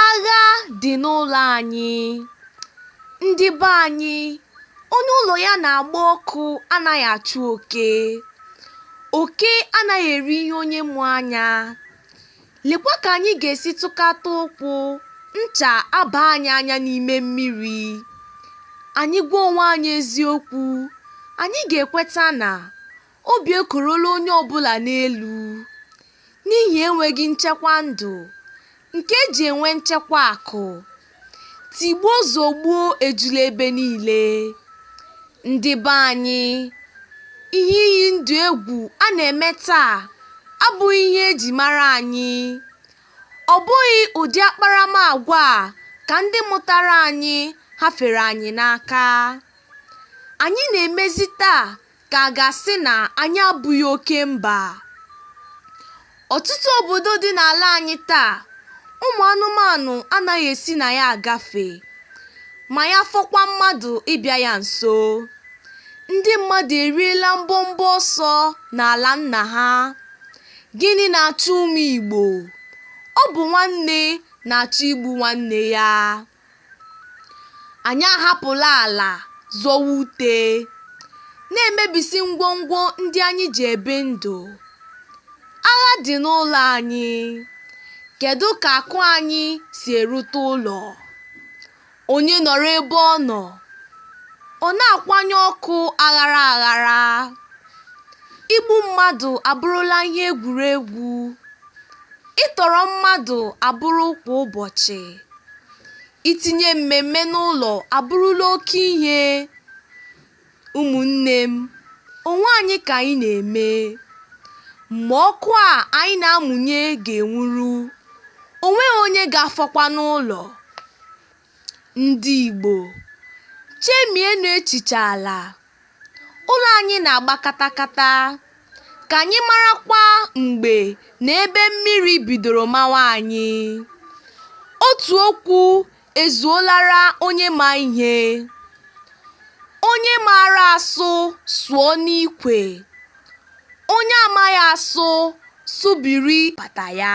agha dị n'ụlọ anyị ndị be anyị onye ụlọ ya na-agba ọkụ anaghị achụ oke oke anaghị eri ihe onye mụ anya Lekwa ka anyị ga-esi tụkata ụkwụ, ncha aba anyị anya n'ime mmiri. Anyị gwa onwe anyị eziokwu, anyị ga-ekweta na obi ekorola onye ọ bụla n'elu n'ihi enweghị nchekwa ndụ nke e ji enwe nchekwa akụ. tigbuo zogbuo ejula ebe niile ndị be anyị ihe iyi ndụ egwu a na-eme taa abụghị ihe eji mara anyị ọ bụghị ụdị akparamagwa a ka ndị mụtara anyị hafere anyị n'aka anyị na-emezi taa ka a ga-asị na anyị abụghị oke mba. Ọtụtụ obodo dị n'ala anyị taa, ụmụ anụmanụ anaghị esi na ya agafe, ma ya fọkwa mmadụ ịbịa ya nso. Ndị mmadụ eriela mbọmbọ ọsọ n'ala nna ha. Gịnị na-achụ ụmụ Igbo? Ọ bụ nwanne na-achọ igbu nwanne ya. Anyị ahapụla ala zọwa ute, na-emebisi ngwongwo ndị anyị ji ebi ndụ. Agha dị n'ụlọ anyị. Kedụ ka akụ anyị si erute ụlọ? Onye nọrọ ebe ọ nọ, ọ na-akwanye ọkụ aghara aghara. Igbu mmadụ abụrụla ihe egwuregwu. ịtọrọ mmadụ abụrụ kwa ụbọchị itinye mmemme n'ụlọ abụrụla oke ihe ụmụnne m onwe anyị ka anyị na-eme mgbe ọkụ a anyị na-amụnye ga-enwuru o nweghị onye ga-afọkwa n'ụlọ Ndị Igbo, chemienụ echiche ala. Ụlọ anyị na-agba katakata. Ka anyị marakwa mgbe na ebe mmiri bidoro mawa anyị. Otu okwu ezuolara onye ma ihe. Onye maara asụ sụọ n'ikwe. Onye amaghị asụ sụbiri bata ya.